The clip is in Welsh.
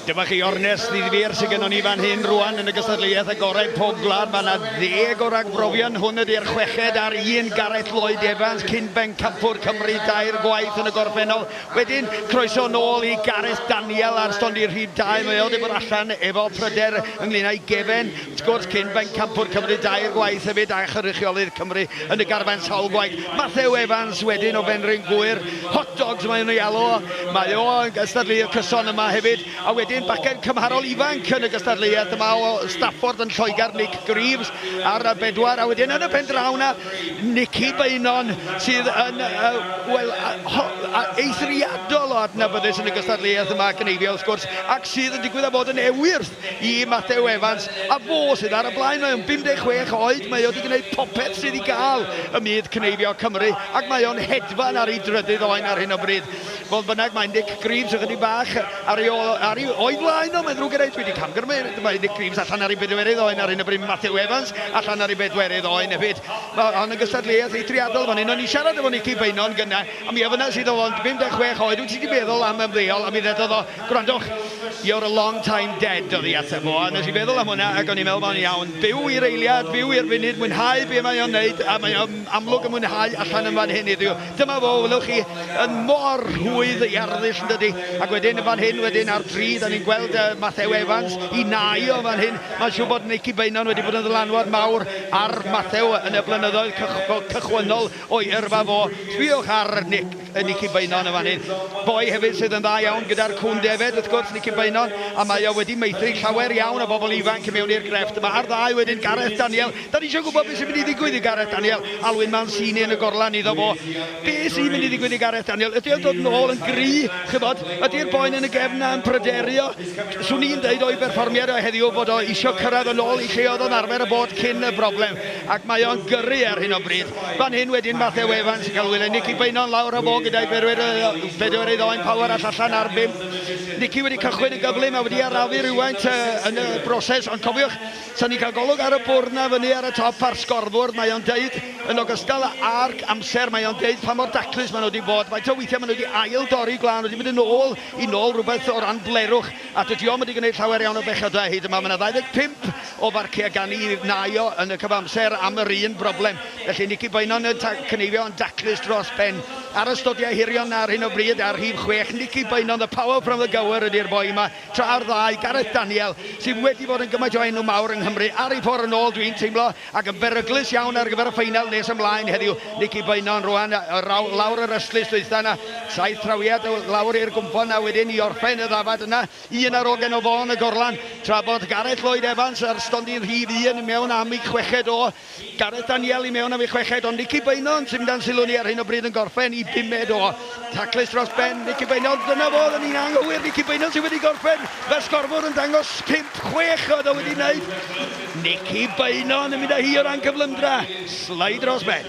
Dyma chi ornest ddifyr sydd gennon ni fan hyn rwan yn y gystadleuaeth agored pob gwlad. Mae yna ddeg o ragbrofion. Hwn ydy'r chweched ar un Gareth Lloyd Evans, cyn bencampwr Cymru dair gwaith yn y gorffennol. Wedyn, croeso nôl i Gareth Daniel ar stondin rhif 2. Mae o wedi bod allan efo pryder ynglyn â'i gefen. Wrth gwrs, cyn Bencampwr Cymru dair gwaith hefyd a chynrychiolydd Cymru yn y garfan sawl gwaith, Mathew Evans, wedyn o Fenrhyn Gŵyr, Hot Dogs maen nhw'n ei alw o, mae o yn gystadleuwr cyson yma hefyd, a wedyn bachgen cymharol ifanc yn y gystadleuaeth yma o Stafford yn Lloegr, Nick Greaves ar bedwar, a wedyn yn y pen draw 'na, Nicky Beynon sydd yn, wel, eithriadol o adnabyddus yn y gystadleuaeth yma, Cneifio wrth gwrs, ac sydd yn digwydd â bod yn ewyr! i Mathew Evans, a fo sydd ar y blaen. Mae o'n 56 oed, mae o 'di gwneud popeth sydd i gael ym myd cneifio Cymru, ac mae o'n hedfan ar ei drydydd oen ar hyn o bryd. Fodd bynnag, mae Nick Greaves ychydig bach ar ei ôl, ar ei, o'i flaen o, mae'n ddrwg gyda i, dwi 'di camgymryd, mae Nick Greaves allan ar ei bedwerydd oen ar hyn o bryd, Mathew Evans allan ar ei bedwerydd oen hefyd. Mae hon yn gystadleuaeth eithriadol fan hyn. O'n i'n siarad efo Nicky Beynon gynnau, a mi ofynnais iddo fo, yn 56 oed, wyt ti 'di meddwl am ymddeol? A mi ddedodd o, Gwrandwch, You're a long time dead oedd ei ateb o, a nes i feddwl am hwnna ac o'n i'n meddwl mae'n iawn. Byw i'r eiliad, byw i'r funud, mwynhau be mae o'n wneud, a mae o'n amlwg yn mwynhau allan yn fan hyn heddiw. Dyma fo, welwch chi, yn mor rhwydd iarddull yn dydi? Ac wedyn yn fan hyn wedyn ar dri, dan ni'n gweld yy Mathew Evans, i nau o fan hyn. Mae'n siŵr bod Nicky Beynon wedi bod yn ddylanwad mawr ar Mathew yn y blynyddoedd cychwynnol. O'i yrfa fo, sbïwch ar Nick, yy Nicky Beynon yn fan hyn. Boi hefyd sydd yn dda iawn gyda'r cŵn defaid wrth gwrs, Nicky Beynon, a mae o wedi meithrin llawer iawn o bobl ifanc i mewn i'r grefft yma. A'r ddau wedyn, Gareth Daniel. Dan ni isio gwybod beth sy'n mynd i ddigwydd i Gareth Daniel. Alwyn Mancini yn y gorlan iddo fo. Be sy'n mynd i ddigwydd i Gareth Daniel? Ydy o'n dod nôl yn gry? Chibod, ydy'r boen yn y gefn 'na yn pryderio? Swn i'n deud o'i berfformiad o heddiw fod o isio cyrraedd yn ôl i lle oedd o'n arfer y bod cyn y broblem. ac mae o'n gyrru ar hyn o bryd. Fan hyn wedyn Mathew Evans yn cael wylio Nicky Beynon lawr a fo gyda'i bedwerydd Owain Power all allan ar bum. Nicky wedi cychwyn yn gyflym a wedi arafu rhywfaint yn y broses ond cofiwch, sa ni'n cael golwg ar y bwrdd na fyny ar y top a'r sgorfwrdd mae o'n deud yn ogystal a'r amser mae o'n deud pa mor daclus mae nhw wedi bod. Faint o weithiau mae nhw wedi ail dorri gwlân wedi mynd yn ôl i nôl rhywbeth o ran blerwch a dydi o'm wedi gwneud llawer iawn o bechadau hyd yma. Mae 'na 25 o farciau gan i naio yn y cyfamser am yr un broblem. Felly, ni cyn bwyno na cneifio yn daclus dros ben. Ar ystodiau hirion ar hyn o bryd ar rhif chwech, ni cyn bwyno 'The Power From The Gower' ydi'r boi yma, tra'r ddau, Gareth Daniel, sydd wedi bod yn gymaint o enw mawr yng Nghymru ar ei ffordd yn ôl, dwi'n teimlo, ac yn beryglus iawn ar gyfer y ffeinal nes ymlaen heddiw. Ni cyn bwyno yn rwan lawr yr ystlys dwytha yna, saith trawiad lawr i'r gwnffon a wedyn i orffen y ddafad yna. Un ar ogen o Fôn y Gorlan, tra bod Gareth Lloyd Evans ar stondin rhif un mewn am ei chweched o. Gareth Daniel i mewn am ei chweched o. Nicky Beynon sydd dan sylw ni ar hyn o bryd yn gorffen i bumed o. Taclus dros ben, Nicky Beynon, dyna fo, oedden ni'n anghywir, Nicky Beynon sydd wedi gorffen, mae'r sgorfwr yn dangos pump chwech oedd o wedi wneud. Nicky Beynon yn mynd â hi o ran cyflymdra, slide dros ben.